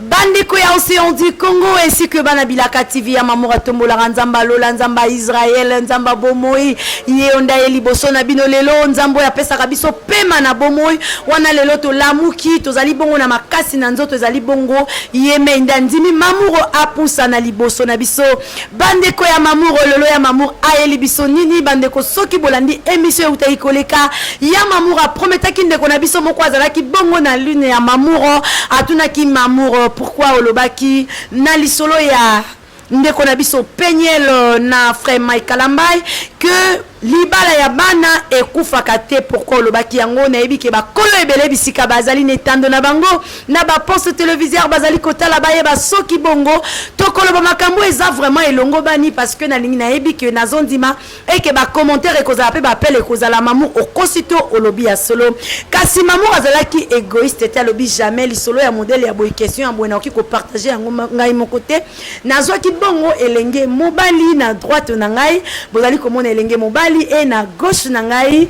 Bandeko ya Océan du Congo ainsi que bana bilaka TV ya Mamour atombolaka nzamba lola nzamba Israël nzamba bomoi ye onda ye liboso na bino lelo nzambo apesaka biso pema na bomoi wana lelo tolamuki tozali bongo na makasi na nzoto ezali bongo ye mei nde andimi Mamour apusa na liboso na biso Bandeko ya Mamour ololo ya Mamour ayeli biso nini bandeko soki bolandi emission eutaki koleka ya Mamour aprometaki ndeko na biso moko azalaki bongo na lune ya Mamour atunaki Mamour pourquoi olobaki na lisolo ya ndeko na biso Peniel na frère Mike Kalambay que Libala ya bana ekufaka te pourquoi olobaki yango nayebi ke bakolo ebele bisika bazali na etando na bango na ba poste televiseur bazali kotala bayeba soki bongo tokoloba makambo eza vraiment elongobani parce que nalingi nayebi ke nazondima eke ba commentaire ekozala pe bapele ekozala mamu okosi to olobi ya solo kasi mamu azalaki egoiste te alobi jamais lisolo ya modele ya boye question ya boye nakoki kopartage yango ngai moko te nazwaki bongo elenge mobali na droite na ngai bozali komona elenge mobali e na gauche na ngai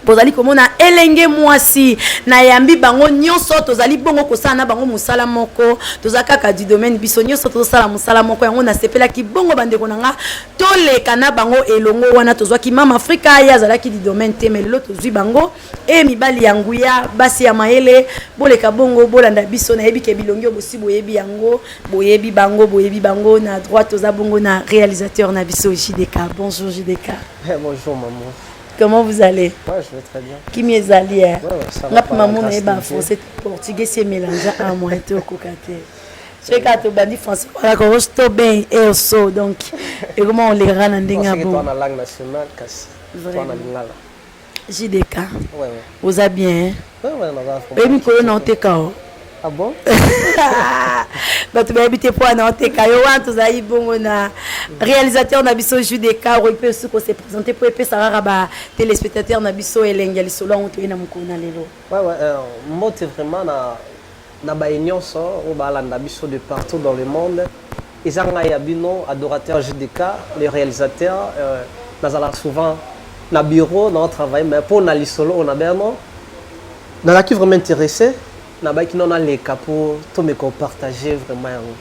bozali komona elenge mwasi nayambi bango nyonso tozali bongo kosala na bango mosala moko toza kaka du domaine biso nyonso tozosala mosala moko yango nasepelaki bongo bandeko na nga toleka na bango elongo wana tozwaki mama afrika ye azalaki du domaine te me lelo tozwi bango Ee mibali ya nguya, basi ya mayele, boleka bongo, bolanda biso. Nayebi ke bilongi oyo bosi boyebi yango, boyebi bango, boyebi bango. Na droite toza bongo na realisateur na biso JDK. Bonjour JDK. Eh, bonjour maman. Comment vous allez Ouais, je vais très bien. Kimi ezali eh. Ouais, ouais, ça va. Nga pe maman na yeba français portugais c'est mélangé à moi to kokate. soki kaka tobandi français wana koko to ben elso donc ekoma olekaka na ndenge ya bongo JDK. Ouais, ouais. Oza bien. Hein? Ouais, ouais, maman. Et mikolo na oteka o. Ah bon? bato bayebi te mpo wana oteka yo wana tozali bongo na réalisateur na biso judeka oyo mpe osuki ose présente mpo epesa kaka ba téléspectateur na biso elengi ya lisolo yango toyei na mokolo na lelo mbote vraiment na na baye nionso oyo ba landa biso de partout dans le monde eza ngai ya bino adorateur JDK le realisateur nazalaka souvent na bureau nao travailler mais po na lisolo oyo na bino nazalaki vraiment interesse na bayaki nao naleka po tomeka ko partager vraiment yango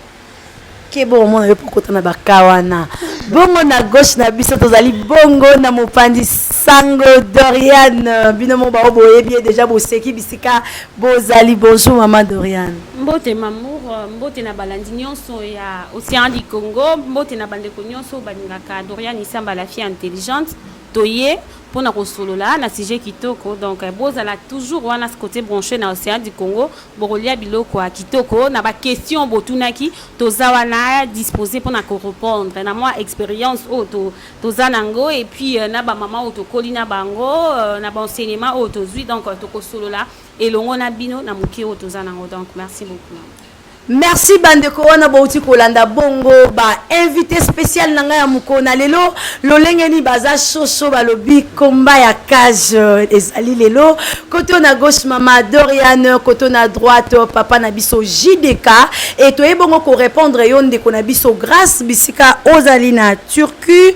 keba omona yo mpe okota na baka wana bongo na gauche na biso tozali bongo na mopanzi sango doriane bino moko bao boyebi ye deja boseki bisika bozali bonjour mama doriane mbote mamour mbote na balandi nyonso ya océan du congo mbote na bandeko nyonso balingaka doriane isamba la fille intelligente Toye pona kosolola na sujet kitoko donc bozala toujours wana cote branche na ocean du Congo bokolia biloko ya kitoko na ba question botunaki toza wana dispose pona ko repondre na mua experience oyo to toza na ngo et puis na ba mama oyo tokoli na bango na ba enseignement oyo tozui donc tokosolola elongo na bino na moke oyo toza na ngo donc merci beaucoup. Merci bandeko wana bouti kolanda bongo ba invité spécial na ngai ya mokolo na lelo lolenge nini baza soso balobi komba ya cage euh, ezali lelo koto na gauche mama Dorian koto na droite euh, papa na biso JDK et toye bongo ko répondre yo ndeko na biso grâce bisika ozali na Turquie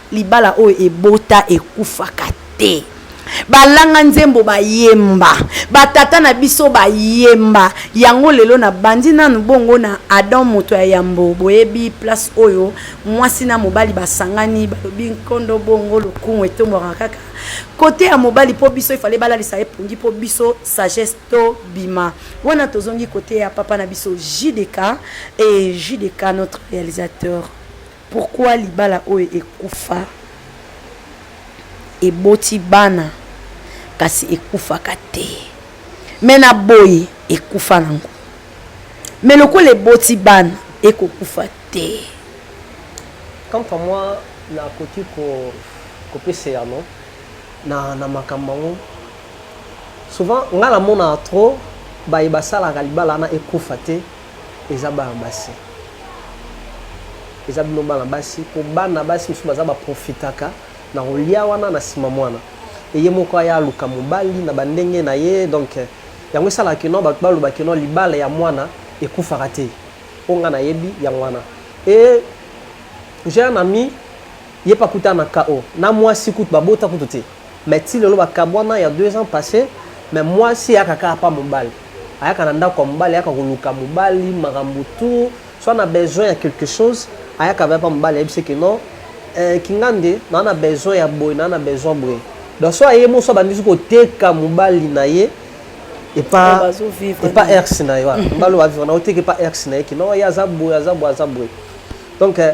Libala oyo ebota ekufaka te. Balanga nzembo bayemba, ba tata na biso bayemba yango lelo na bandi nanu bongo na Adam moto ya yambo boyebi place oyo mwasi na mobali basangani balobi nkondo bongo lokumu etombwaka kaka kote ya mobali mpo biso ifale balalisa ye pongi mpo biso sagesse tobima wana tozongi kote ya papa na biso JDK et JDK notre réalisateur Pourquoi libala oyo ekufa eboti bana kasi ekufaka te mais na boyi ekufa nango mais lokola eboti bana eko kufa te. Quant à moi na koki ko kopesa eyano na na makambo yango souvent nga na monaka trop baye basalaka libala wana ekufa te. Eza bana basi eza bino bana basi po bana basi mosusu baza ba profitaka na kolia wana na nsima mwana eye moko aya aluka mobali na bandenge na ye donc yango esalaka kino bato baloba kino libala ya mwana ekufaka te mpo ngai nayebi yango wana e j'ai un ami ye mpe akuta na ko na mwasi kutu babota kutu te Mais ti lelo bakabwana ya deux ans passe mais mwasi eyaka kaka pa mobali ayaka na ndako ya mobali ayaka koluka mobali makambo tout soit na besoin ya quelque chose ayaka vaya pa mobali ayebisi ke non eh, kingande naa na besoin ya boye naa na besoin boye donc so aye moso abandisi koteka mobali na ye epa epa erx na ye wana mobali oyo bavivre na oteka epa erx na ye kino ye aza boye aza boye aza boye donc eh,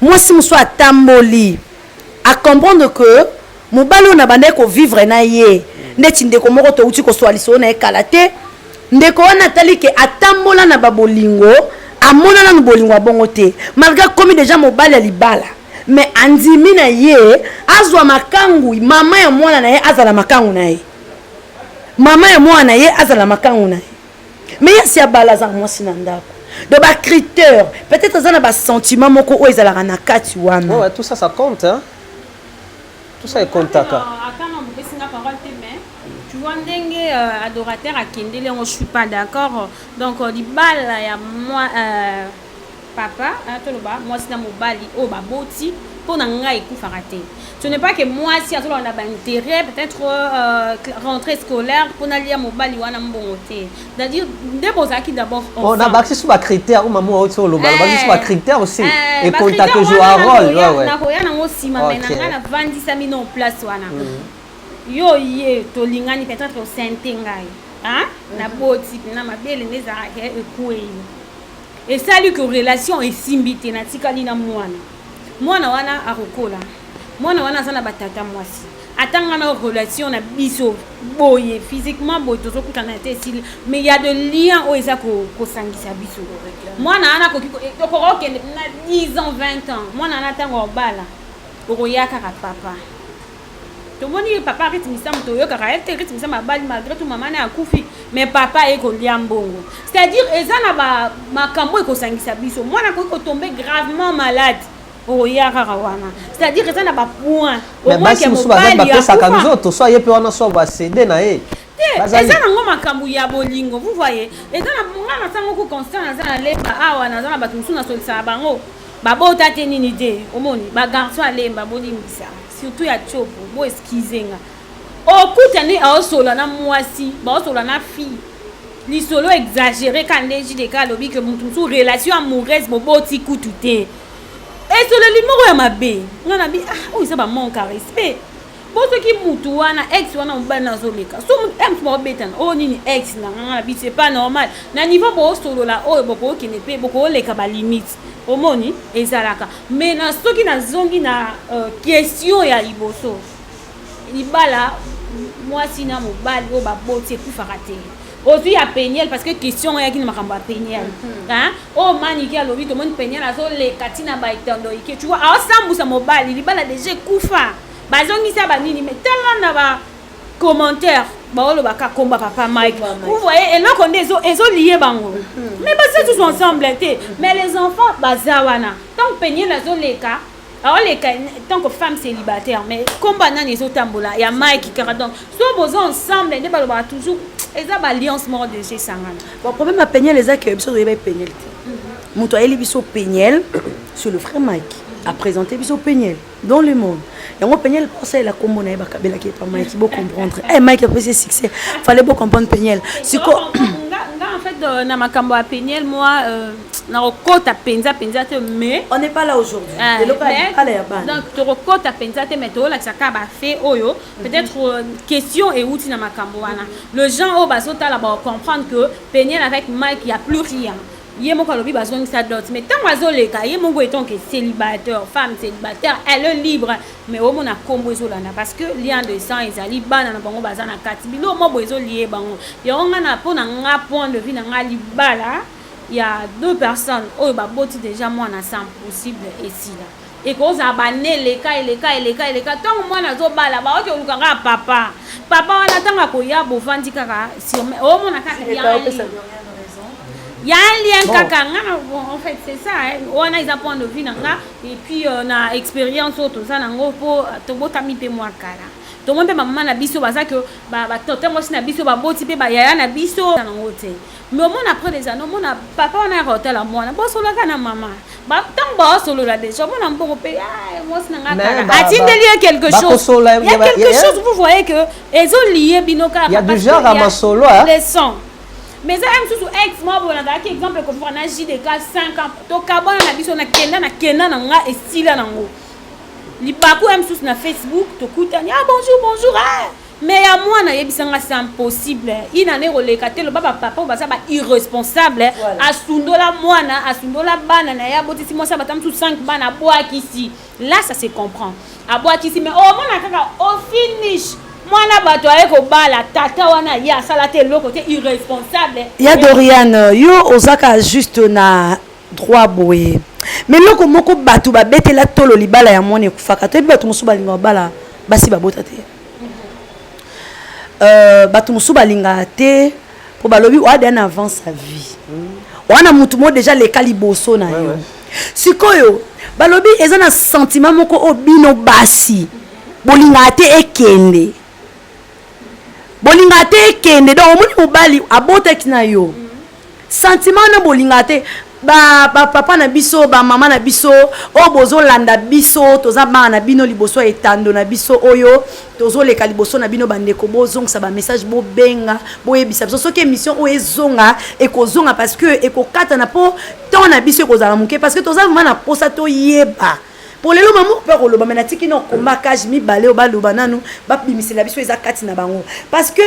mwasi mosusu atamboli a comprendre que mobali oyo nabandaki kovivre na ye ndeti ndeko moko touti koswa lisolo na ye kala te ndeko wana atali ke atambola na babolingo amona nanu bolingo ya bongo te malgre akomi deja mobali ya libala mais andimi na ye azwa makangu mama ya mwana na ye azala makangu na ye mama ya mwana na ye azala makangu na ye mais ya si abala azaka mwasi na ndako donc bacritère peut-être aza na basentiment moko oyo ezalaka na kati wana ouais, ouais, tout ça ça compte hein? tout ça ekontaka tu vois ndenge euh, adorateur akendeli yango je suis pas d'accord donc euh, libala ya moi euh, papa hein, toloba mwasi na mobali oyo baboti mpo na ngai ekufaka te ce n'est pas que mwasi azoloba na baintérêt peut-être euh, rentrée scolaire mpo nalia mobali wana mbongo te c'est-à-dire nde bozalaki d'abord oh, na bakisi so bacritère o mama oti oloba bakisi so bacritère aussi ekonta toujours arole nakoya nango nsima mai na ngai navandisami no place wana mm. yo ye tolingani peut-être osente ngai naboti na mabele nde ezalaka ekwei esali que relation esimbi te natikali na mwana mwana wana akokola mwana wana aza na batata mwasi atanga na relation na biso boye physiquement boye tozokutana te esili mais ya de lien oyo eza kosangisa biso mwana wana akoki okoka okende na 10 ans 20 ans mwana wana ntango obala okoya kaka papa tomoni ye papa rite misamu toyokaka ye te rite misamu abali malgré tout mama naye akufi mais papa aye kolia mbongo c'est à dire eza na ba makambo ekosangisa biso mwana akoki kotombe gravement malade okoya kaka wana c'est à dire eza na bapoint basi mosusu bazali bapesaka nzoto so aye mpe wana so basede na ye te eza nango makambo ya bolingo vous voyez eza na nga na ntango ko constant naza na lemba awa naza na bato mosusu nasolisaka bango babota te nini te omoni bagarçon alemba bolimbisa surtout ya chopo bo excuse nga okutani aosola na mwasi baosola na fille lisolo exagere ka nde jdk alobi ke moto mosusu relation amoureuse boboti kutu te esoleli moko ya mabe nga na bi ah, oyo eza bamanque ya respect po soki mutu wana ex wana mobali na azoleka so ex baobetana oyo oh, nini ex na nga na biso epa normal na niveau boosolola oyo bokokende mpe bokoleka balimite Omoni ezalaka mais na soki nazongi na euh, question ya liboso libala mwasi na mobali oyo baboti ekufaka te ozwi ya peniel parce que question ngo eyaki na makambo ya peniel mhm. oyo oh, manike alobi tomoni peniel azoleka ntina baetondo ike tu vois aosambusa mobali libala deja ekufa bazongisa banini me tala na ba commentaire baoloba ka komba papa mike vous voyez eloko nde ezolie bango hmm. mais baza tous ensemble te hmm. mais les enfants baza wana ntango peniel azoleka aoleka ntango femme célibataire mais komba nani ezotambola ya mike kaka donc so boza ensemble nde balobaka toujours eza baalliance moko deja esangana bon problème ya peniel eza ke biso toyeba peniel te moto ayeli biso peniel sur le vrai mike apresente biso peniel dans le monde yango peniel mpo asalela nkombo na ye bakabelaki epa mike bo comprendre e eh, mike apesi ye succès fale bo comprendre peniel siko nga en fait euh, na makambo ya peniel moi euh, nakokota mpenza mpenza te mais on n'est pas là aujourd'hui ah, eloko ala ya bana donc tokokota mpenza te mais tokolakisa kaka bafait oyo mhm. peut-être euh, question euti na makambo wana le gens oyo bazotala bakocomprendre que peniel avec mike ya plus rien ye moko alobi bazongisa dot mais ntango azoleka ye moko etant que célibataire femme célibataire elle est libre mais omona nkombo ezolanda parce que lien de sang ezali bana na bango baza na kati bilo mwa boye ezolie bango yango ngai na mpo na nga point de vue na ngai libala ya deux personnes oyo baboti déjà mwana sans possible esila Ekozala b'annees eleka, eleka, eleka, eleka, tango mwana azo bala, ba oke koluka kaka papa. Papa wana tango akoya bovandi kaka sur meme, omona kaka il y'a un lien. Ya un lien bon. kaka nga na en fait c'est ça wana eza point de vue na nga et puis euh, na expérience oyo toza nango mpo euh, tobotami mpe mwa kala tomoni mpe bamama na biso baza ke batonte mwasi na biso baboti mpe bayaya na biso nango te mais omona après les années omona papa wana yaka otala mwana bosolaka na mama ntango baosolola déjà omona mbongo mpe ah, mwasi na ngai kaka atindeli ye quelque chose ya quelque chose vous voyez que ezolie bino kakaleson hein. mais eza ya mosusu ex mwa boye nazalaki exemple ekofika na jdk 5 ans tokabwana na biso nakenda nakenda na ngai esila nango libaku ya mosusu na facebook tokutani ah bonjour bonjour ah. Mais ya mwana yebisa nga c'est impossible. Une année koleka te loba ba papa baza ba irresponsable. Voilà. Asundola mwana, asundola bana na ya botisi mwasi abata mtu 5 bana bwakisi. Là ça se comprend. Abwakisi mais oh mwana kaka au finish. mwana bato aye kobala tata wana ye asala te eloko te irresponsable ya doriane yo ozaka juste na droit boye mais eloko moko bato babetela tolo libala ya mwana ekufaka toyebi bato mosusu balingaka bala basi babota te euh, bato mosusu balingaka te mpo balobi oya deja na avant sa vie oya na motu moko deja leka liboso na yo sikoyo balobi eza na sentiment moko oyo bino basi bolingaka te ekende bolingaka te ekende donc omoni mobali abotaki na yo Sentiment wana bolingaka te ba, ba papa na biso ba mama na biso oyo bozolanda biso toza bana na bino liboso ya etando na biso oyo tozoleka liboso na bino bandeko bozongisa bamessage bobenga boyebisa biso soki émission oyo ezonga ekozonga parce que ekokatana mpo temps na biso ekozala moke parce que toza vraimen na mposa toyeba mpo lelo mamo mpe akoloba me natiki na okomba cage mibale oyo baloba nanu babimisela biso eza kati na bango parce que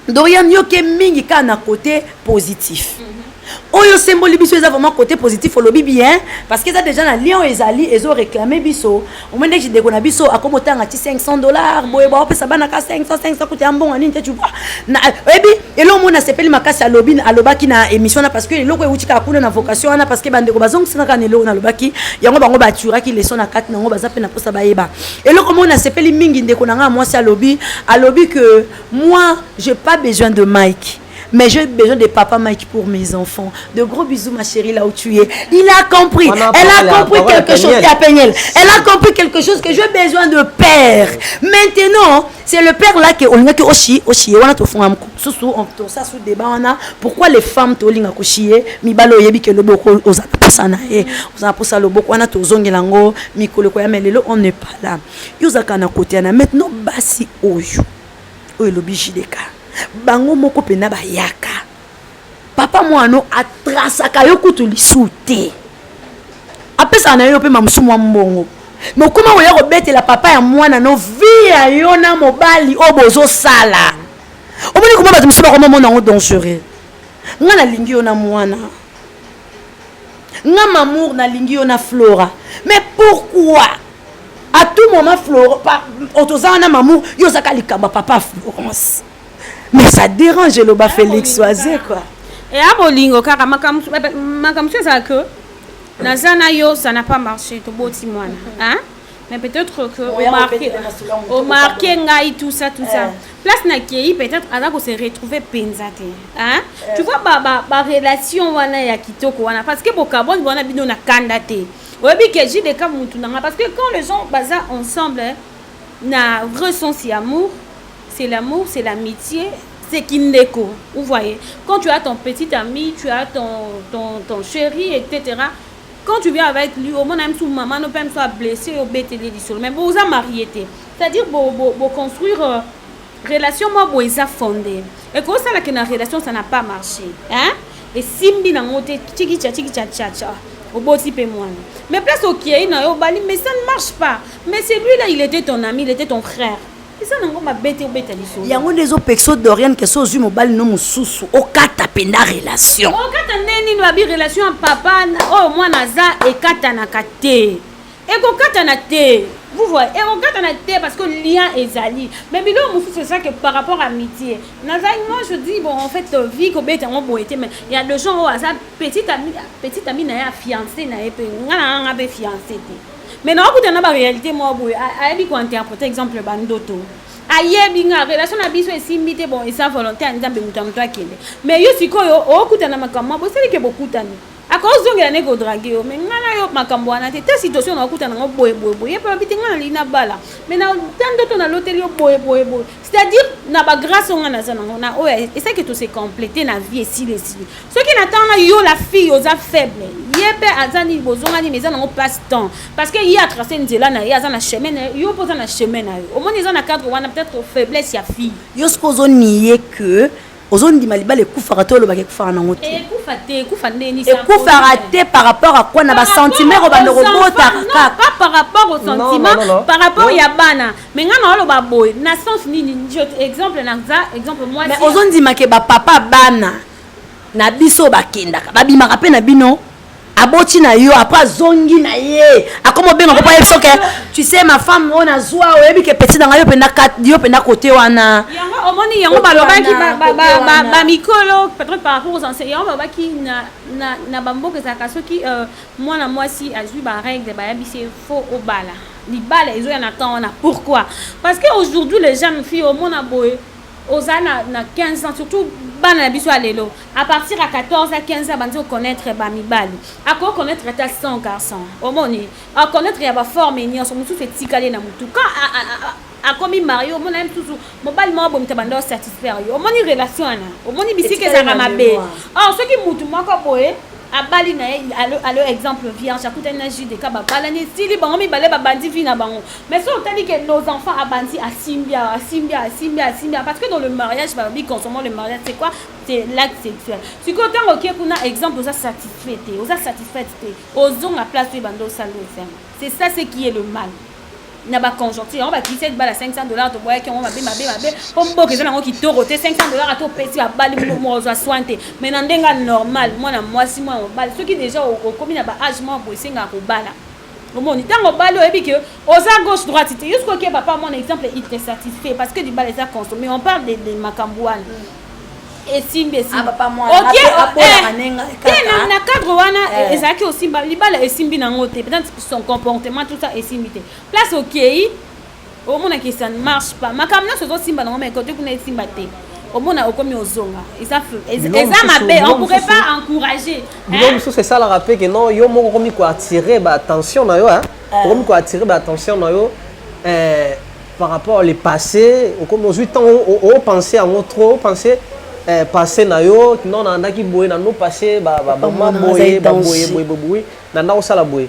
Dorian yoke mingi kaka na cote positif mhm. oyo osemboli biso eza vraiment cote positif olobi bien parce que eza déjà na lien oyo ezali ezo réclame biso omoi ndeki ndeko na biso akomi otanga ti 500 dollars boye baopesa bana ka 500 500 kuta ya mbongo nini te tu vois na oyebi eloko moko nasepeli makasi alobi alobaki na émission wana parce que eloko euti kaka kuna na vocation wana parce que bandeko bazongisaka kaka na eloko nalobaki yango bango baturaki leson na kati na yango baza mpe na mposa bayeba eloko moko nasepeli mingi ndeko na ngai ya mwasi alobi alobi que Moi j'ai pas besoin de Mike mais j'ai besoin de papa Mike pour mes enfants. De gros bisous ma chérie là où tu es. Il a compris. Elle a compris quelque chose qui a peigné. Elle a compris quelque chose que j'ai besoin de père. Maintenant, c'est le père là qui olinga ki oshi oshi wana to fonga mko. Susu on to ça sous débat wana. Pourquoi les femmes to linga ko chier mi balo yebi ke loboko oza posa na ye. Oza posa loboko wana to zongi lango mikolo ko ya melelo on n'est pas là. yo ozalaka na kote ya na mete no basi oyo oyo elobi jdk bango moko mpena bayaka papa mwano atrasaka yo kutu lisu te apesaka na yo mpe mamosu mwa mbongo me okoma koya kobetela papa ya mwana no vi ya yo na mobali oyo bozosala omoni koma bato mosusu bakoma mona yango dangereux ngai nalingi yo na mwana nga mamour nalingi yo na flora mais pourquoi à tout moment flora otoza wana mamour yo ozaka likambo ya papa florence mais ça dérange eloba félix oise quoi eya eh, bolingo kaka makambo mosusu ezala ke naza na yo ça na pas marché toboti mwana mais peut-être que au marqué au marqué ngai tout ça tout ça eh. place na kei peut-être aza ko se retrouver penza te hein eh. tu vois ba ba, ba relation wana ya kitoko wana parce que bokaboni wana bino na kanda te oyebi que j'ai des cas mutu nanga parce que quand les gens baza ensemble hein, na vrai sens ya amour c'est l'amour c'est l'amitié c'est kindeko vous voyez quand tu as ton petit ami tu as ton ton ton chéri etc quand tu viens avec lui omona ye mosusu mama no mpe mosusu ablesse yo obeteli ye lisolo mais boza marie te c'est-à-dire boconstruire bo, bo euh, relation mwa boye eza fonde ekosala ke na relation ça na pas marché hein esimbi nango te chikicha chikicha chacha oboti mpe mwana mais place okei na yo obali mais ça ne marche pas mais celui là il était ton ami il était ton frère eza nango mabe te obeta lisolo yango nde ezopekisa dorian kese ozwi mobali no mosusu okata mpenza relation okata nde nini babi relation ya papa oyo mwana aza ekatanaka te ekokatana te vous voyez ekokatana te parce que lien ezali mais biloko mosusu eza que par rapport à amitié nazali moi je dis bon en fait euh, vie kobeta yango boye te mais ya de gens oyo aza petite ami na ye afiance na ye mpe ngai na ngai ngai mpe fiance te mais na okuta na ba réalité moko boye ayebi ko interpréter exemple ba ndoto ayebi nga relation na biso esimbi te bon eza volonté ya nzambe moto ya moto akende mais yo sikoyo okuta na makambo ma bosali ke bokutani akozongela ne kodrage yo mais ngai na yo makambo wana te ta situation na okuta nango boye boye boye ye mpe alobi te ngai nalingi nabala mais na ta ndoto naloteli yo boye boye boye c'est-à-dire na ba grâce oyo nga naza nango na oyo esaki to se complète na vie esili esili soki na ntango na yo la fille oza faible ye mpe aza nini bozongani mais eza nango passe temps parce que ye atrace nzela na ye aza na chemin na ye yo mpe oza na chemin na yo omoni eza na cadre wana peut-être faiblesse ya fille yo soki ozoniye que ozondima libala ekufaka to olobaka ekufaka nango te ekufaka te par rapport à quoi na basentiment ekobanda kobotaka kaka par rapport au sentiment par rapport ya bana mais ngai naoloba boye na sens nini exemple naza exemple moi mais ozondimake bapapa bana na biso bakendaka babimaka mpe na bino aboti na yo apres azongi na ye akoma obenga kopa yebi soke tu sais ma femme oyo nazwa oyebi ke peti na ngai yo mpenza yo mpenza kote wana omoni yango balobaki bamikolo peut-être par rapport aux enseignants yango balobaki na bamboka ezalaka soki euh, mwana mwasi azwi barègle bayebisi ye fo obala libala ezoya na temps wana pourquoi parce que aujourd'hui les jeunes filles omona boye oza na, na 15 ans surtout bana na biso ya lelo à partir ya 14 à 15 ans bandi oconnaître bamibali akoki connaître ata 100 garçon omoni aconnaître ya baforme nyonso mosusu etikali na motu quand akomi marie omona ye mosusu mobali moko bomita banda osatisfaire yo omoni relation wana omoni bisika ezalaka mabe or soki motu moko boye abali na ye alo exemple vierge akutani na judeka babalani esili bango mibale babandi vi na bango Mais soki otali que nos enfants abandi asimbi awa asimbi awa asimbi asimbi awa parce que dans le mariage balobi consommant le mariage c'est quoi c'est l'acte sexuel sikoyo ntango okie kuna exemple oza satisfait te oza satisfaite te ozonga place oyo ebanda osali esengo c'est ça ce qui est le mal na baconjoncture yango bakisi ete bala 500 dollars toboyaki yango mabe mabe mabe mpo mboka eza nango kitoko te 500 dollars ata opesi babali moko ozwa soin te mais na ndenge ya normal mwana mwasi mwana mobali soki déjà okomi na ba age moko boye esengaka kobala omoni ntango obali oyebi ke oza gauche droite te jusqu'au ke papa mwana exemple il te satisfait parce que libala eza consommé on parle de, de makambo wana mm. esimbi esimbina eh, cadre wana eh. ezalaki osimba libala esimbi nango te peut-être son comportement tout ça esimbi te place okei okay, omona que ça ne marche pas makambo nyonso ozosimba nango mai kote kuna esimba te omona okomi ozonga eza mabe on pourrait pas encourager bilo mosusu esalaka mpe ke non yo moko okomi koattire baattention na yo euh. okomi koattire baattention na yo euh, par rapport le passé okomi ozwi ntango opense yango trop opense euh, passé na yo non nalandaki boye nano passé bamama boye baboye boye boye nanda kosala boye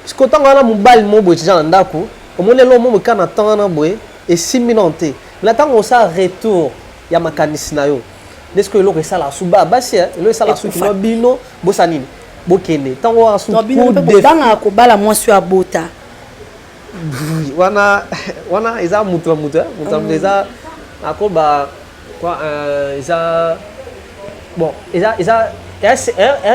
sikoyo ntango wana mobali moko boye tija na ndako omoni elo mo moka na temps wana boye esimbi nano te na ntango osala retour ya makanisi na yo nde sikoyo eloko esalaka su ba basi eh, eloko esalaka su kino bino bosa nini bokende ntango wana su bangaka kobala mwasi oyo abota wana wana eza moto na moto eh, moto na moto mm. eza akoba Quoi, euh, eza bon eza eza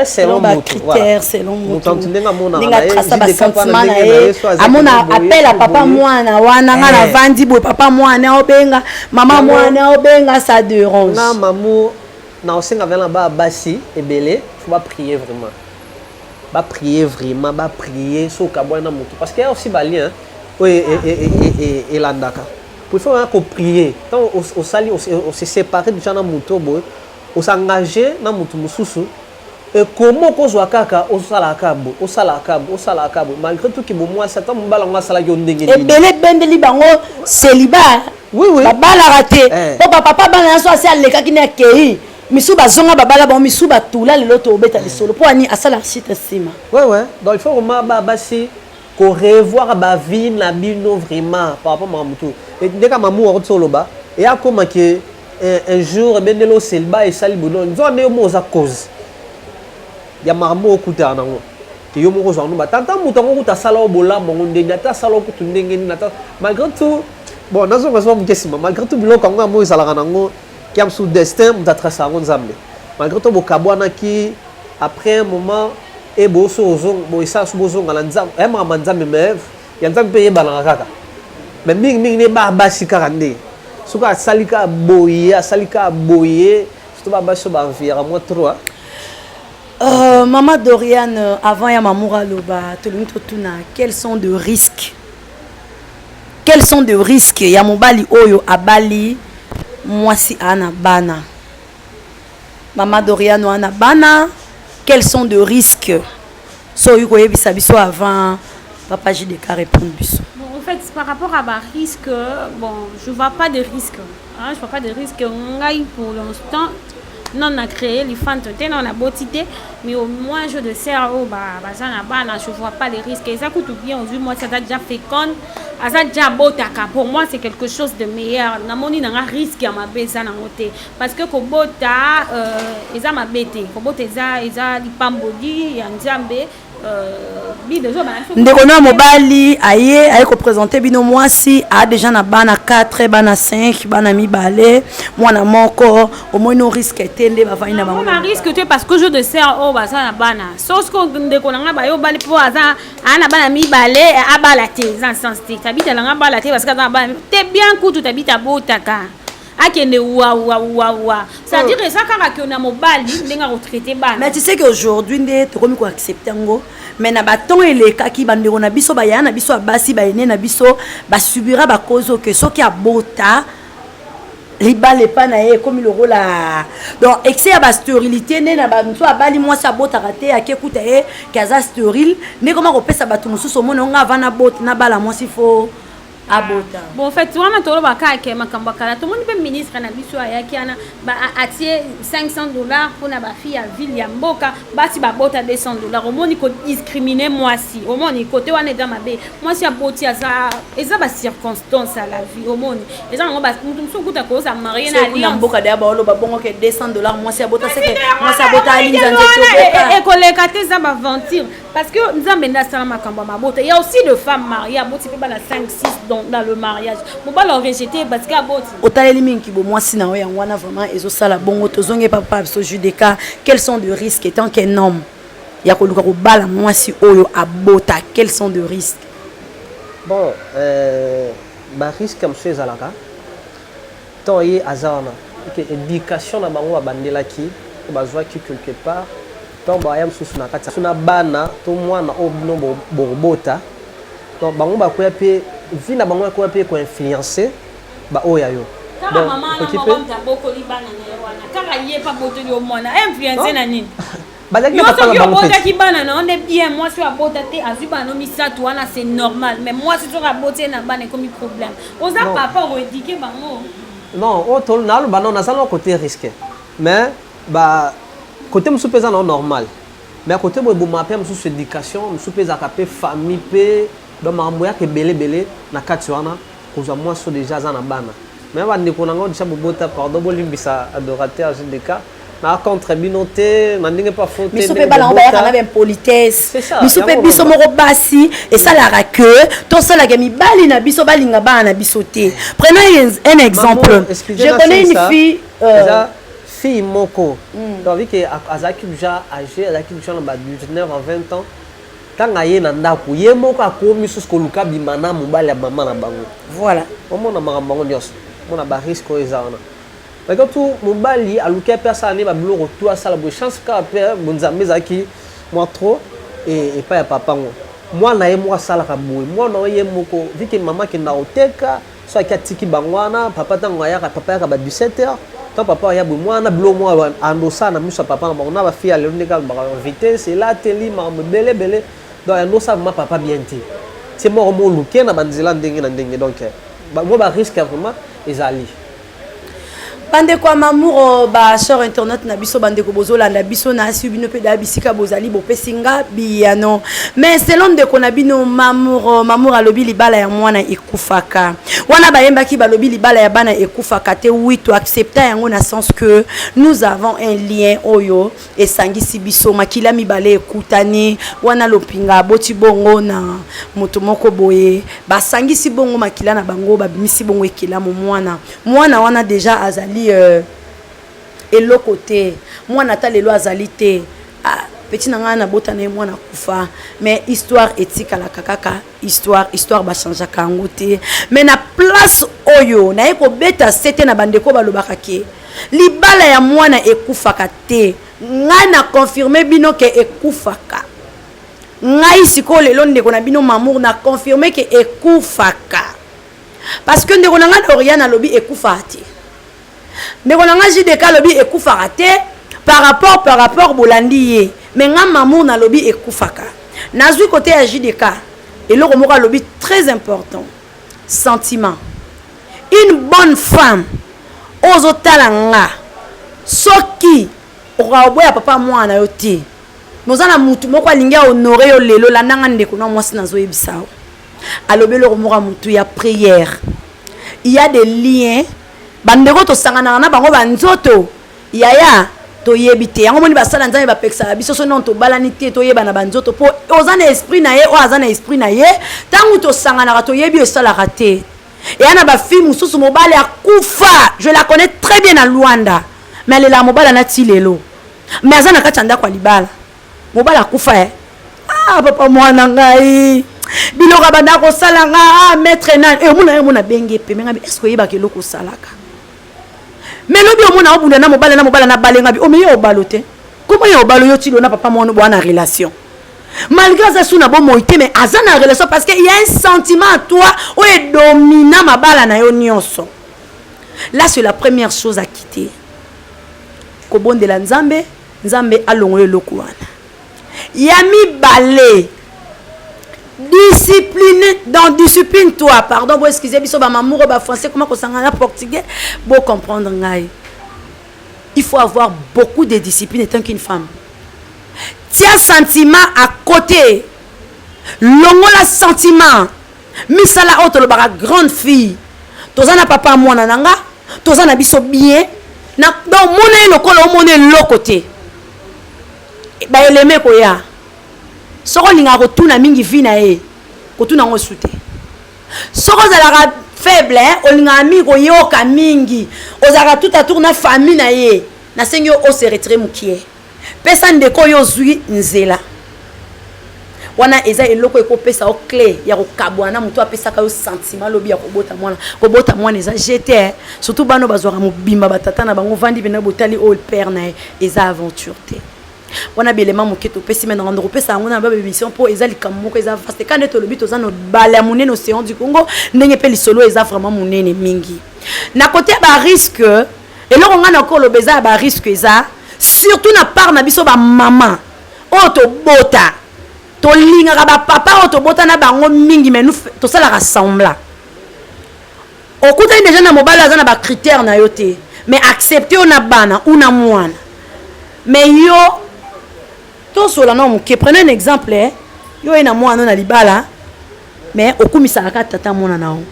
selon bacritère selon motuninga trasa basentiment na ye amona appel ya papa mwana wana nga navandi boye papa mwana obenga mama mwana obenga ça derange na mamu na osenga vela na ba basi ebele faut ba prier vraiment ba prier vraiment ba prier soki abwana na motu parce que ya aussi balien oyo elandaka Prefer oya ko prier tango osali o se separer dejà na mutu oyo boye o s'engager na mutu mususu et comment okozwa kaka osalaka kaka boye osalaka kaka boye osalaka kaka boye malgre tout que bo muasi ata mobali yango asalaki yo ndenge nini ebele ebendeli bango celibat oui oui babalaka te po ba papa bana nionso asi alekaki na akei misu bazonga babala bango misu batula lelo tobeta lisolo po ani asala site nsima wewe donc il faut koma basi ko revoir ba vie na bino vraiment par rapport makambo tu et ndeka mamu akotisa oloba et akoma que un, un jour ebendeli oselba esali bono nzoka nde yo moko oza cause ya makambo okutana nango ke yo moko ozwa ndoba tata moto yango kuta asala o bolamu yango ndenge ata asala o kutu ndenge nini ata malgré tout bon nazonga soba moke nsima malgré tout biloko yango yango ezalaka nango Kiamsu destin moto atrasa yango nzambe malgré to bokabwanaki après un moment e boso ozonga boyesala so bozonga na nzambe ya makambo ya nzambe meve ya nzambe mpe eyebanaka kaka me mingi mingi ne baa basi kaka nde soki asali kaka boye asali kaka boye soto baa basi so baenviera mwa trois Euh, Maman Dorian, euh, avant Yamamura Loba, tout le monde tourne à quels sont de risques Quels sont de risque ya mobali oyo abali mwasi a na bana? Mama Doriano a na bana, quels sont de risque? So oyi koyebisa biso avant papa JDK répondre biso. Bon, en fait, par rapport à ba risque, bon, je vois pas de risque. Ah, je vois pas de risque ngai pour l'instant non na créer lifanto te non naboti te mais au moins jour de serre oyo baza na bana je vois pas les risques eza kutu bien ozwi mwasi aza déjà féconde aza déjà abotaka pour moi c'est quelque chose de meilleur namoni nanga risque ya mabe eza nango te parce que kobota euh, eza mabe te kobota eza eza lipamboli ya nzambe ndeko na mobali aye aye kopresente bino mwasi aa deja na bana 4 bana 5 bana mibale mwana moko omoni no riske te nde bavandi na bango na riske te parce que jour de serre oyo baza na bana sosko ndeko na ngai baye obali mpo aza aa na bana mibale abala te eza na sens te tabita na ngai abala te parce que aza na bana te bien kutu tabita abotaka akende wawawawa c'est-à-dire oh. eza kaka ke na mobali ndenge akotraite bana mais tu sais que aujourd'hui nde tokomi koaccepte yango mais na baton elekaki bandeko na biso bayaya na biso ya basi bayene na biso basubira bakozo ke soki abota libala epa na ye ekomi lokola donc excès ya basterilité nde na bamosusu abali mwasi abotaka te ake kuta ye ke aza sterile nde koma kopesa bato mosusu omona onga avana bot nabala mwasi fo abota bon fait wana toloba kaka ke makambo ya kala tomoni mpe ministre na biso ayaki wana atie 500 dollars mpona bafille ya ville ya mboka basi babota 200 dollars omoni kodiscrimine mwasi omoni kote wana eza mabe mwasi aboti aza eza bacirconstance ya la vie omoni eza nango moto mosusu okuta koza marie na alliance mboka deya baoloba bongo ke 200 dollars mwasi abota seke mwasi abota alinzanza ekoleka te eza baventure Parce que Nzambe nda sala makambo ya mabota. Il y a aussi de femmes mariées aboti pe bana 5 6 dans, dans le mariage. Mobali a rejeté parce que aboti. Otaleli mingi kibo mwasi na yo yango wana vraiment ezo sala bongo tozonge papa biso Judeka quels sont de risques étant qu'un homme ya koluka kobala mwasi oyo abota quels sont de risques bon euh, barisque mosusu ezalaka Temps ye aza wana et que education na bango ba bandelaki to ba zuaki quelque part tango ba ya mususu na kati ya na bana to mwana oyo bino bobota donc bango ba kueya pe vie na bango ekueya pe ko influencer ba oyo ya yo. kaka mama wana moko moto abokoli bana na ye wana kaka ye mpe abotoli yo mwana influence na nini bazalaki na papa na bango obotaki bana na one bien mwasi oyo abota te azwi bana no misato wana c'est normal mais mwasi soki aboti ye na bana ekomi problème oza papa okoedike bango non oyo oh, naloba non naza na côté risque mais ba côté mosusu mpe eza nao normal mais côté boye boma mpe mosusu éducation mosusu mpe ezalaka mpe famille mpe donc makambo yaka ebele ebele na kati wana Kozwa mwasi oyo dejà aza na bana. Mais ba ndeko na nga dejà bo bota pardon bo limbisa adorateur JDK. na contre bino te na ndenge pa faute biso mpe bana yango bayaka na baimpolitesse biso mpe biso moko basi esalaka ke tosalaka mibali na biso balinga bana na biso te prenons un exemple je connais une fille euh, fille moko mm. donc que azalaki déjà âgé azalaki déjà na ba 19 à 20 ans Tanga aye na ndaku ye moko akomi susu koluka abima na mobali ya mama na bango. Voilà. Omona makambo yango nionso. Omona ba risque oyo eza wana. Malgré tout mobali aluki ape asala nde ba biloko tout asala boye chance kaka pe bonzambe ezalaki mwa trop et epai ya papa ngo. Mwana ye moko asalaka boye. Mwana oyo ye moko vu que mama akenda koteka. so ayaki atiki bango wana papa ntango ayaka papa ayaka ba 17 heures ntango papa aya boye mwana bilo mwa andosa na miso ya papa na bango na bafille ya lelo ndenge alobaka vitesse elateli makambo ebele ebele donc andosa vraimen papa bien te ti moko moluke na banzela ndenge na ndenge donc mwa bariske ya vraimen ezali bandeko ya mamuro ba sor internaute na biso bandeko bozolanda biso na asi bino mpe da bisika bozali bopesi nga biyano mais selo ndeko na bino mamuro mamuro alobi libala ya mwana ekufaka wana bayembaki balobi libala ya bana ekufaka te wi to accepta yango na sens que nous avons un lien oyo esangisi biso makila mibale ekutani wana lopinga aboti bongo na moto moko boye basangisi bongo makila na bango babimisi bongo ekelamu mwana mwana wana deja azali euh, eloko te mwana ata lelo azali te ah, peti na ngai nabota na ye mwana kufa mais histoire etikalaka kaka histoire histoire ba changeaka yango te mais na place oyo naye kobeta sete na bandeko balobaka ke libala ya mwana ekufaka te ngai na confirme bino ke ekufaka ngai sikoyo lelo ndeko na bino mamour na confirme ke ekufaka parce que ndeko na ngai na oriane alobi ekufaka te ndeko na nga JDK alobi ekufaka te par rapport par rapport bolandi ye mais nga mamour nalobi ekufaka nazwi kote ya JDK eloko moko alobi très important sentiment une bonne femme oyo ozotala nga soki okoka koboya papa mwana na yo te noza na mutu moko alingi ahonore yo lelo landa nga ndeko na mwasi nazoyebisa yo alobi eloko moko ya mutu ya prière il y a des liens Bandeko tosanganaka na bango ba nzoto yaya toyebi te yango moni basala nzambe bapekisaka biso so nano tobalani te toyebana ba nzoto mpo oza na esprit na ye oyo aza na esprit na ye ntango tosanganaka toyebi oyo esalaka te eya na bafilme mosusu mobali akufa je la connais très bien na luanda me alelaka mobali anati lelo me aza na kati ya ndako ya libala Mobali akufa eh. Ah papa mwana ngai. Biloka banda kosala nga ah maître nani. Eh omona yo mona benge pembe ngabi est-ce que oyebaka eloko osalaka? Mais lobi omona obunda na mobali na mobali na balenga bi omeyo obalo te. Comment yo obalo yo tilo na papa mwana bwana relation? malgré aza su na bomoi te mais aza na relation parce que ya un sentiment à toi oyo edomina mabala na yo nyonso là c'est la première chose à quitter kobondela nzambe Nzambe alongola eloko wana. Ya mibale, discipline dans discipline toi pardon bo excusez biso ba mamour ba français comment kosangana na portugais bo comprendre ngai il faut avoir beaucoup de discipline étant qu'une femme tia sentiment à côté longola sentiment misala oyo tolobaka grande fille toza na papa mwana na nga toza na biso bien na donc mona ye lokola omona eloko te baeleme koya soki olingaka kotuna mingi vi na ye kotuna yango esu te soki ozalaka faible olingaka mingi koyoka mingi ozalaka tout atour na famille na ye nasengi yo ose retire mokie Pesa ndeko oyo ozwi nzela. Wana eza eloko ekopesa yo cle ya kokabwana na moto apesaka yo sentiment lobi ya kobota mwana kobota mwana eza jete eh. surtout bana bazwaka mobimba batata na bango vandi mpena botali oyo père na ye eza aventure te wana bielema moke topesi me nanga ndokopesa yango na babemission mpo eza likambo moko eza vaste kande tolobi toza na bale ya monene océan du congo ndenge mpe lisolo eza vraiment monene mingi na kote ya barisque Eloko nga na ko loba eza ya ba risque eza surtout na part na biso ba maman oyo to bota to lingaka ba papa oyo to bota na bango mingi mais nous to salaka semblant okutani deja na mobali aza na ba critère na yo te mais accepte yo na bana ou na mwana mais yo tosola na moke prenez un exemple eh? yo ye na mwana na libala mais okumisaka kaka tata mwana na yo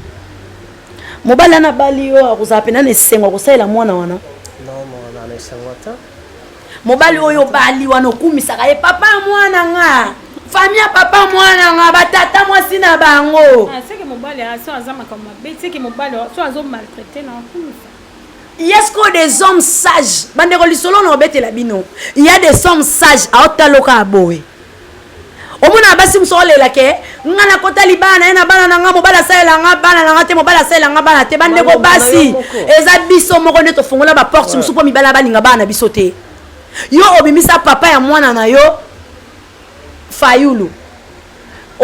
mobali wana abali yo akozala mpena na esengo akosalela mwana wana mobali oyo obali wana okumisaka ye papa ya mwana nga fami ya papa mwana nga batata mwasi na bango ah, yesko des hommes sage bandeko lisolo na obetela bino ya des hommes sage aotaloka aboye omonaka basi mosusu olela ke nga nakota libala na ye na bana na nga mobali asalela nga bana na nga te mobali asalela nga bana te bandeko basi eza biso moko nde tofongola baporte mosusu mpo mibala balinga bana na biso te yo obimisa papa ya mwana na yo fayulu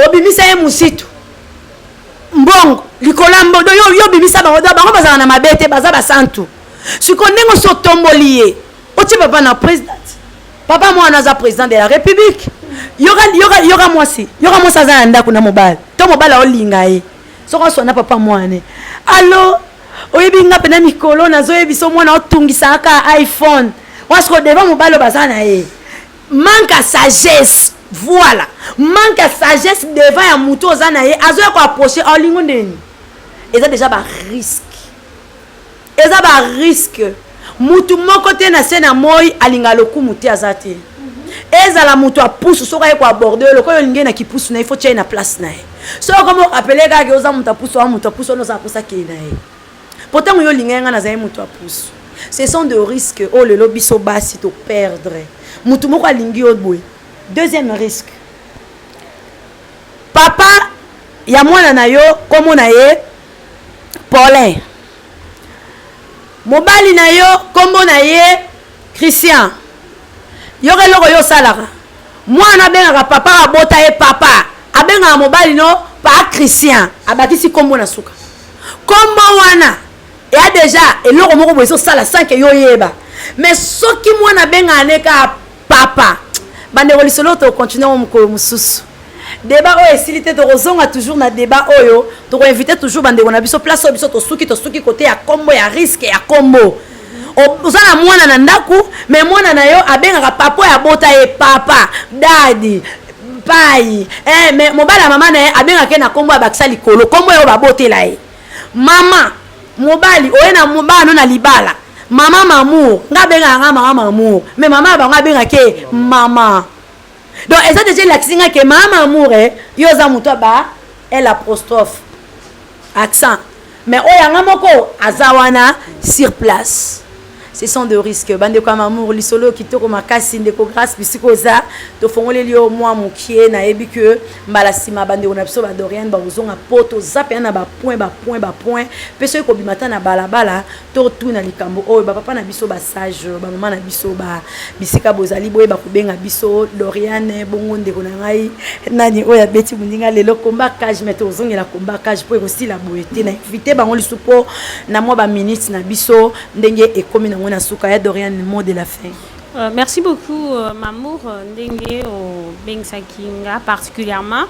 obimisa ye mositu mbongo likolo ya mbodo yo yo obimisa bango da bango bazala na mabe te baza basantu sikoyo ndenge osi otomboli ye otie papa na president papa mwana aza président de la république yoka yoka yoka mwasi yoka mwasi aza na ndako na mobali to mobali aolinga ye soko aswana papa mwana alo oyebi nga mpena mikolo nazoyebiso mwana otungisaka ka iphone mwasi kodeva mobali baza na ye manque ya sagesse voilà manque ya sagesse devant ya motu oza na ye azoya koapproche olingo ndeni eza déjà barisque eza ba risque mutu moko te na se na moi alinga lokumu te aza te ezala moto ya pusu soki aye koaborde yo lokola olingi ye na kipusu na ye fo tia ye na place na ye soki okomi orapele kaka ke oza moto ya pusu oa moto ya pusu wana oza naposa kei na ye po ntango yo olinga ye ngai nazali moto ya pusu ce sont de risque oyo oh, lelo biso basi toperdre moto moko alingi yo boye deuxième risque papa ya mwana na yo nkombo na ye paulin Mobali na yo kombo na ye Christian. Yoka eloko yo osalaka. Mwana abengaka papa abota ye papa. Abengaka mobali no pa Christian. Abakisi kombo na suka. Kombo wana eya deja eloko moko boye ezosala sans que yo oyeba. Mais soki mwana abengaka ne ka papa bandeko lisolo oyo tokocontinue yango mokolo mosusu deba oyo esili te tokozonga toujours na deba oyo tokoinvite toujours bandeko na biso place oyo biso tosuki tosuki kote ya kombo ya riske ya kombo oza na mwana na ndako me mwana na yo abengaka papa oyo abota ye papa dadi pai eh, me mobali ya mama na ye abengaka ye na kombo abakisa likolo kombo oyo babotela ye Mama mobali oye na bana no na libala mama mamour nga abengaka nga mama mamour mais mama ya bango abengaka ye mama donc eza deja elakisi nga ke mama mamour eh, yo oza moto ya ba el apostrophe accent mais oyo yanga moko aza wana sur place Ce sont de risques. Bandeko ya mamour, lisolo oyo kitoko makasi. Ndeko Grace bisika oza, tofongoleli yo mwa mokie. Nayebi que mbala nsima bandeko na biso ba Dorian bakozonga mpo toza mpenza na bapoint bapoint bapoint mpe soki kobima ata na balabala totuna likambo oyo bapapa na biso basage bamama na biso ba Bisika bozali boyeba kobenga biso Doriane bongo ndeko na ngai nani oyo abeti moninga lelo combat cage mais tozongela combat cage mpo ekosila boye te na invite bango lisu mpo na mwa baminute na biso ndenge ekomi nango na suka ya Doriane mot de la fin Euh, merci beaucoup, euh, Mamour, euh, Ndenge, au Bengsaki, particulièrement.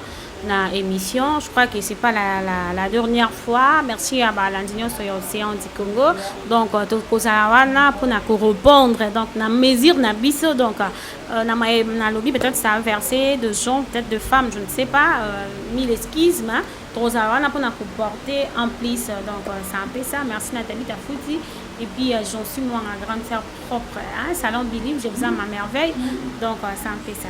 na émission je crois que c'est pas la, la, la dernière fois merci ya balandi nyonso ya océan du congo donc euh, tokozala wana mpona korepondre donc na mesure na biso donc euh, na maye nalobi peut-être ça a versé de gens peut-être de femmes je ne sais pas euh, mille excuses mais tokozala wana mpona koporter en plus euh, donc euh, c'est un peu ça merci nathalie tafuti et puis euh, j'en suis moi ma grande sœur propre hein, salon bilim je vous aime ma merveille donc euh, c'est un peu ça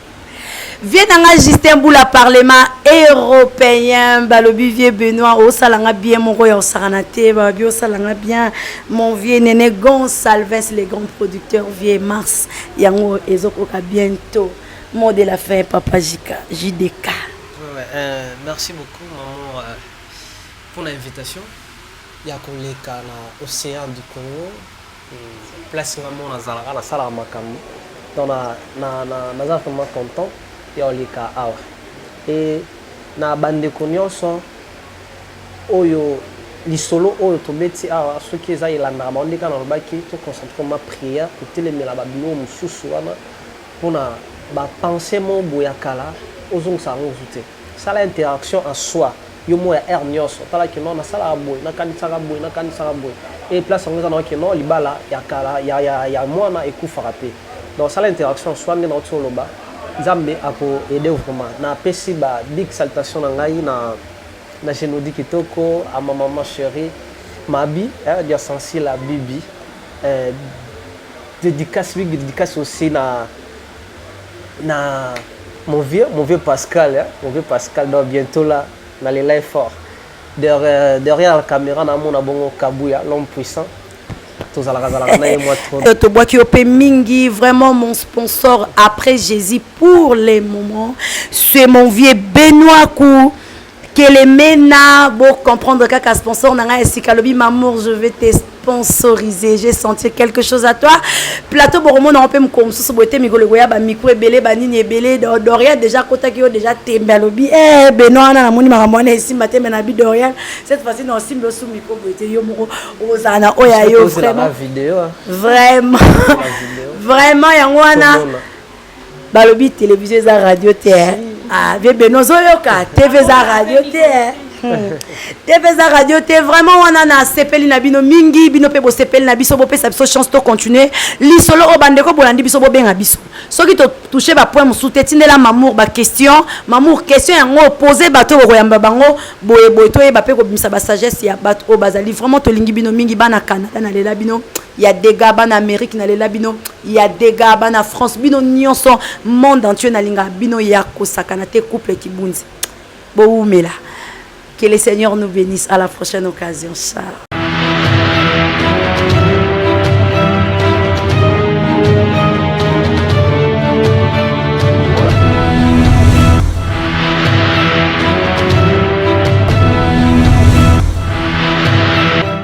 Vieux nanga Justin Bula parlement européen balobi vieux Benoît osala nga bien moko ya osakana te balobi osala nga bien mon vieux Nene Gonsalves le grand producteur vieux Mars yango ezokoka bientôt mot de la fin papa Jika JDK ouais, ouais, euh, merci beaucoup maman euh, pour l'invitation ya koleka na océan du Congo place nga mona zalaka na sala makambo donc na na na naza vraiment content ya oleka awa et na bandeko nyonso oyo lisolo oyo tobeti awa soki eza elandaka bango ndeka nalobaki toconcentre ma prière kotelemela babilo mosusu wana mpona bapense mo boya kala ozongisa yango ozu te Sala interaction en soi yo moko ya heure nionso tala que non nasalaka boye nakanisaka boye nakanisaka boye et place yango eza na yo que non libala ya kala ya ya ya muana ekufaka pe donc sala interaction en soi nde nauti koloba nzambe ako aider vraiment na pesi ba big salutation na ngai na na genodi kitoko a ma maman cherie mabi eh dia sensi la bibi eh dedicace big dedicace aussi na na mon vieux, mon vieux Pascal, hein, mon vieux Pascal, donc bientôt là, dans les live fort. Derrière, derrière la caméra, na mon abongo Kabuya, l'homme puissant. Euh, tobwaki yo mpe mingi vraiment mon sponsor après jésus pour les moments c'est mon vieux benoit kou Kelemena bo comprendre kaka sponsor na ngai ya sika alobi mamour je vais te sponsoriser j'ai senti quelque chose à toi plateau bokomona yango mpe mokolo mosusu boye te mikolo ekoya bamikro ebele banini ebele dorian déjà akotaki yo déjà tembe alobi e beno wana namoni makambo wana esimba te me na bi dorian cette fois-ci na osimbi osu mikro boye te yo moko okozala na oyo ya yo vraiment vraiment yango wana balobi television eza radio te eh. ah, vie beno ozoyoka tv eza radio te eh. hmm. tv eza radio te vraiment wana nasepeli na bino mingi bino mpe bosepeli na biso bopesa biso chance to continue lisolo oyo bandeko bolandi biso bobenga biso soki totouche bapoint mosusu te tindela mamour baquestion mamour question yango opose bato oyo bokoyamba bango boye boye toyeba mpe kobimisa basagesse ya bato oyo bazali vraiment tolingi bino mingi bana canada nalela bino ya dega bana amerique nalela bino ya dega bana france bino nyonso monde entier nalingaka bino ya kosakana te couple kibunzi bowumela que le seigneur nous bénisse à la prochaine occasion ciao